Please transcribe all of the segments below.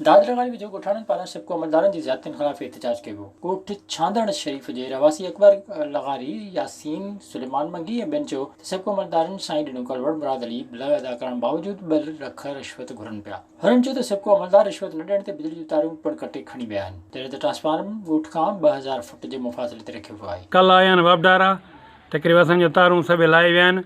دادرا واري ويجهو ڳوٺاڻن پاران سپڪو عملدارن جي زيادتين خلاف احتجاج ڪيو ويو. ڳوٺ ڇانڌڻ شريف جي رهواسي اڪبر لغاري، ياسين، سليمان منگي ۽ ٻين چيو ته سپڪو عملدارن سائين ڏنو ڪلوڙ مراد علي بل ادا ڪرڻ باوجود ٻه لک رشوت گهرن پيا. هنن چيو ته سپڪو عملدار رشوت نه ڏيڻ تي بجلي جون تاريون پڻ ڪٽي کڻي ويا آهن جڏهن ته ٽرانسفارم ڳوٺ کان ٻه هزار فٽ جي مفاصلي تي رکيو ويو آهي. ڪل آيا آهن واپڊارا ته ڪري وسن جون تارون سڀيئي لاهي ويا آهن.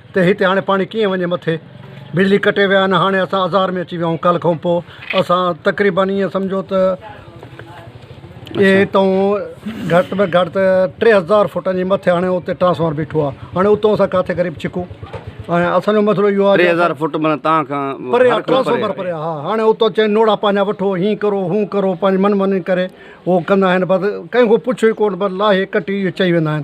ته هتي هاڻي پاڻي ڪيئن وڃي مٿي بجلي ڪٽي ويا آهن هاڻي اسان آزار ۾ اچي ويا آهيون ڪالهه کانپوء اسان تقريبن ائين سمجهو ته اهي هتون گهٽ ۾ گهٽ ته ٽي هزار فٽن جي مٿي هاڻي اتي ٽرانسفارمر بيٺو آهي هاڻي اتون اسان ڪاٿي غريب ڇڪون ۽ اسانجو مسئلو اهو آهي ٽي هزار فٽ معنيٰ تان کان پري آهي ٽرانسفارمر پري آهي ها هاڻي اتو چئن نوڙا پنهنجا وٺو هين ڪرو هون ڪرو پنهنجي من ماني ڪري هو ڪندا آهن بس ڪنهن کان پڇو ئي ڪونه بس لاهي ڪٽي اهو چئي ويندا آهن